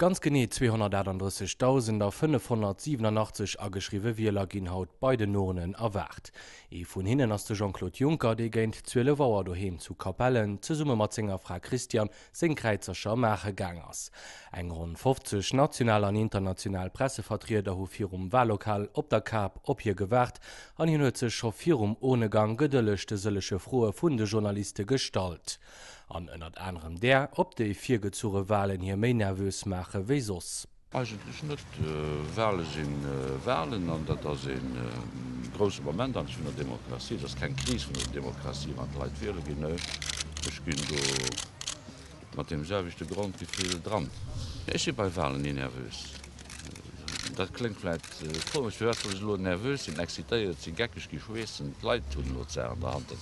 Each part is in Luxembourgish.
Ganz genee 238.587 ageschriwwe Wieler ginn haut bei den Urnen erwaart. Ee vun hinnen ass de Jean-Claude Juncker, dee géint 12 Auer doheem zu Capellen zesumme mat senger Fra Christiane seng Kräizercher maache gaang ass. Eng ronn 50 national an international Pressevertrieder hu virum Wahllokal op der Kap op hie gewaart an hien huet sech scho virum Urnegang gedëlleg de sëllege Froe vun de Journaliste gestallt. An ënnert anerem där, ob déi virgezuge Wahlen hie méi nervös maache wéi soss. Eigentlech net. Wahle si Wahlen an dat ass ee grousse Moment an vun der Demokratie. Et ass keng Kris vun der Demokratie, wann d'Leit wiehle ginn. Nö, ech ginn do mat deem selwechte Grondgefill dran. Ech si bei Wahlen ni nervös. Dat kléngt vläit komesch, firwat soll ech elo nervös sinn, excitéiert sinn, geckeg gi, schweessen? D'Leit hunn elo d'Saach an der Hand,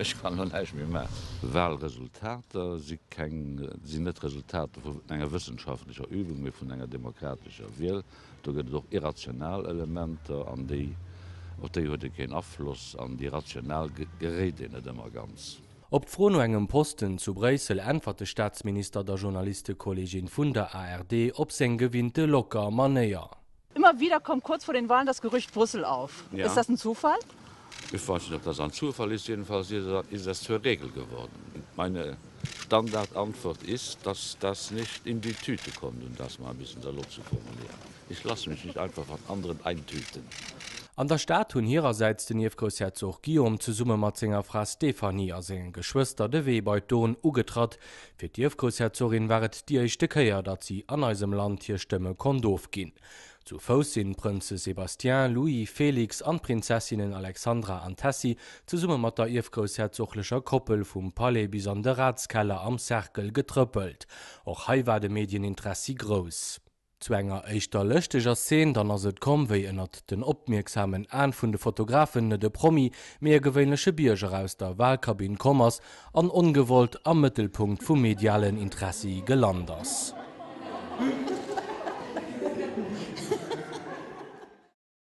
ech kann elo näischt méi maachen. Walresultater si keng, sinn net d'Resultater vu enger wëssenschaftlecher Übung, mee vun enger demokratescher Wiel. Do gëtt et och irrational Elementer, an déi, op déi huet ee keen Afloss, an déi rational geréit een net ëmmer ganz. Op d'Fro no engem Posten zu Bréissel äntwert de Staatsminister der Journalistekollegin vun der ARD op seng gewinnte locker Manéier. Immer wieder kommt kurz vor den Wahlen das Gerücht Brüssel auf. Ist das ein Zufall? Ich weiß nicht, ob das ein Zufall ist. Jedenfalls ist das zur Regel geworden. Meine Standardantwort ist, dass das nicht in die Tüte kommt, um das mal ein bisschen salopp zu formulieren. Ich lasse mich nicht einfach von anderen eintüten. An der Stad hunn hirersäits den Ierfgroussherzog Guillaume zesumme mat senger Fra Stéphanie a sengen Geschwëster de Wee bei d'Urn ugetratt. Fir d'Ierfgroussherzogin war et déi éischte Kéier, datt si an eisem Land hir Stëmme konnt ofginn. Zu Fouss sinn d'Prënze Sébastien, Louis, Félix an d'Prinzessinnen Alexandra an Tessy zesumme mat der ierfgroussherzoglecher Koppel vum Palais bis an de Ratskeller am Cercle getrëppelt. Och hei war de Medien-Interessi grouss. Zu enger éischter lëschteger Szene dann ass et komm, wéi ënnert den opmierksamen Aen vun de Fotografen net e Promi, mee e gewéinleche Bierger aus der Wahlkabinn komm ass an ongewollt am Mëttelpunkt vum medialen Interessi gelant ass.